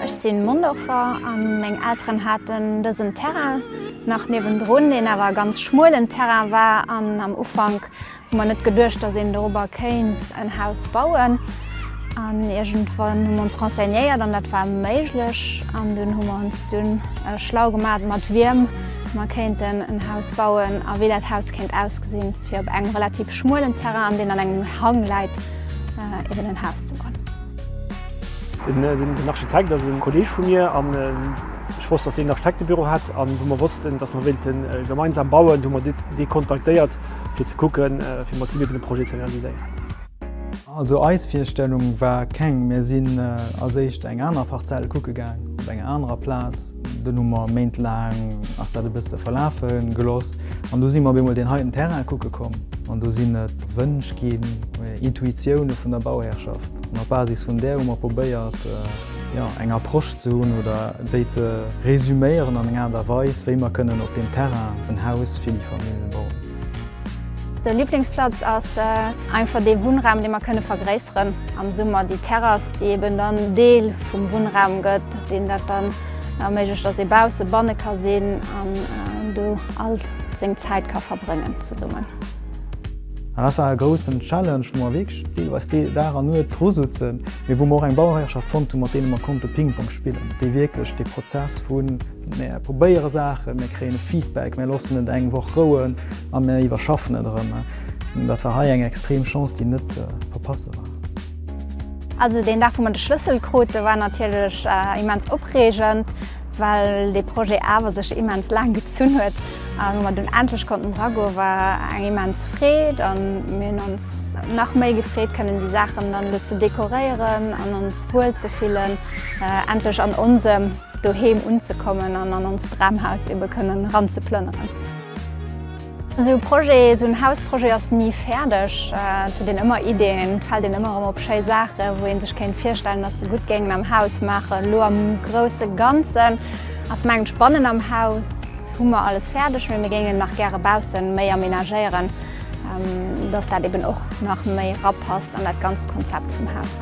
Ech sinn Mondorfer an meng Elteren haten dësen Terrain nach niewendrun, deen awer e ganz schmuelen Terrain war an am Ufank Hu mer net geduecht, dass een dorobber kéint en Haus bauen. An iergendwann hu mer ons renseignéiert an dat war méiglech. An dunn hu mer ons dunn schlau gemat, mat wiem mer kéinten en Haus bauen a wéi dat Haus kéint ausgesinn, fir op engem relativ schmuelen Terrain, an deen an engem Hang läit, eben en Haus ze bauen. Den Architekt ass e Kolleeg vu mir an ech wosst, dass hien en Architektebüro hat. An wou mer wossten, dass mer wéilten gemeinsam bauen, hu mer dee kontaktéiert. fir ze kucken, fir mat hinne den Projet ze realiséieren. Also eis Virstellung war keng. Mir sinn als éischt eng aner Parzell kucke gaang, op enger anerer Plaz. Dunn hu mer méintlaang ass dat e bësse verlafe gelooss an du si mer op eemol deen heiten Terrain kucke komm. An do sinn et Wënsch ginn, Intuitioune vun der Bauhäerschaft. An op Basis vun där hu mer probéiert, jo, eng Approche ze hunn oder déi ze resuméieren an enger Aart a Weis, wéi mer kënnen op deem Terrain en Haus fir déi Famille bauen. De Liblingsplatz ass einfach dee Wunnraum, dee mer kënne vergréisseren am Summer, déi Terrass, déi eben dann Deel vum Wunnraum gëtt, deen dat dann erméiglecht, dass ee bausse, banne ka sinn an do all seng Zäit ka verbréngen zesummen. An dat war e groussen Challenge, wou mer wierklech deelweis Dag a Nuet dru souzen, mee wou mer och eng Bauhëierschaft fonnt hunn, mat deene mer konnte Pingpong spillen, déi wierklech dee Prozess vu mir probéiere Saachen, mir kréien e Feedback, mir loossen et eng Woch rouen a mir iwwerschaffen et erëm, dat war hei eng extrem Chance, déi net ze verpasse war. Also deen Dag, wou mer de Schlëssel krute war natierlech immens opreegend. Well dee Projet awer sech immens laang gezunn huet a wa mer dunn endlech konnten dragoen, war eng immens Freed a mir hunn ons nach méi gefreet kënnen déi Saachen dann elo ze dekoréieren an ons wuel ze fillen, endlech an onsem Doheem unzekommen an an onst Dramhaus ebe kënnen eran ze plënneren. Esou e Projet, esou en Hausprojet ass ni fäerdeg. Et huet een ëmmer Ideeën, et fält een ëmmer erëm op schéi Saachen, wou ee sech kéint virstellen, datt se gutt géingen am Haus maachen. Elo am grousse Ganzen ass, mengen ech, bannen am Haus hu mer alles fäerdeg, mee mir géingen nach gäre bausse méi amenagéieren, datt dat eben och nach méi erapasst an dat ganzt Konzept vum Haus.